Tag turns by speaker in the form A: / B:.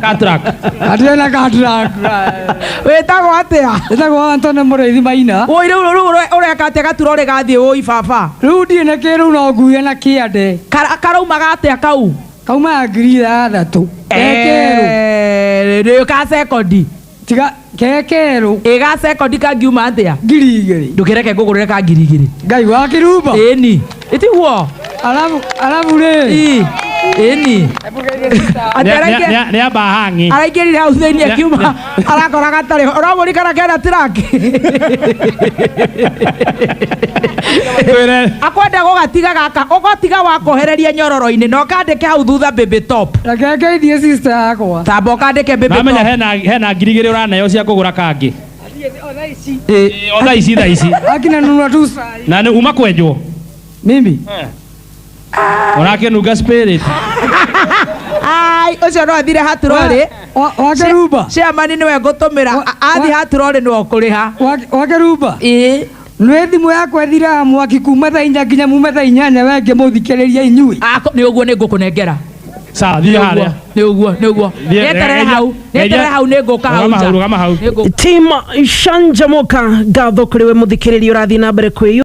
A: Katrak. Atire na katrak. Wĩtagwo atĩa? Wĩtagwo Antone Mũrĩithi Maina. Woi rĩu rĩu ũre- ũreka atĩa gatura ũrĩ gathiĩ woi baba. Rĩu ndirĩ na kĩ rĩu no nguhe na kĩande. Kara- Karaumaga atĩa kau? Kaumaga ngiri ithathatũ. Ekerũ. Eh, rĩu ka sekondi. tiga ke kerũ ĩ ga sekondi kangiuma atĩa ngiri igĩrĩ ndũkĩreke ngũgũrĩre ka ngiri igĩrĩ ngai wa kĩrumba ĩni ĩtiguo arabu arabu rĩ ĩ ĩni nä amba hang'i araingärire hau thä inä akiuma arakora gatarä ho ragå rikana kena tiraki akwenda gå gatiga gaka å gotiga wakohereria nyororo-inä na å kandä ke hau thutha mbä top reke ngeithie sister yakwa tamba ũkandĩke mbĩmbĩ namenya top. hena hena ngiri igĩrĩ ũraneo cia kũgũra kangĩ Eh, o thaa ici thaa ici akina nunua tu saa hii. na nĩ uma kwenjwo mimi ũrakĩnunga spirit ai ũcio no athire haturorĩ Wa- wake rumba ciamani nĩwe ngũtũmĩra Wa- athiĩ wa- haturorĩ nĩwe ũkũrĩha wake rumba ĩĩ Nä thimå yakwa ĩthiraga mwaki kuma thaa inya nginya mume thaa inyanya we ngä må thikä rä ria inyuä Ako- nĩ ũguo nĩ ngũkũ nengera Sawa, thiĩ harĩa. nĩ ũguo nĩ ũguo Thiĩ- nĩterere geithia- hau nĩterere geithia- hau nĩ ngũka hau Rũgama hau, nja. rũgama hau. Nĩ ngũka- tim shanjamuka ngatho kå rä we må thikä rä ria å rathiä na mbere kwä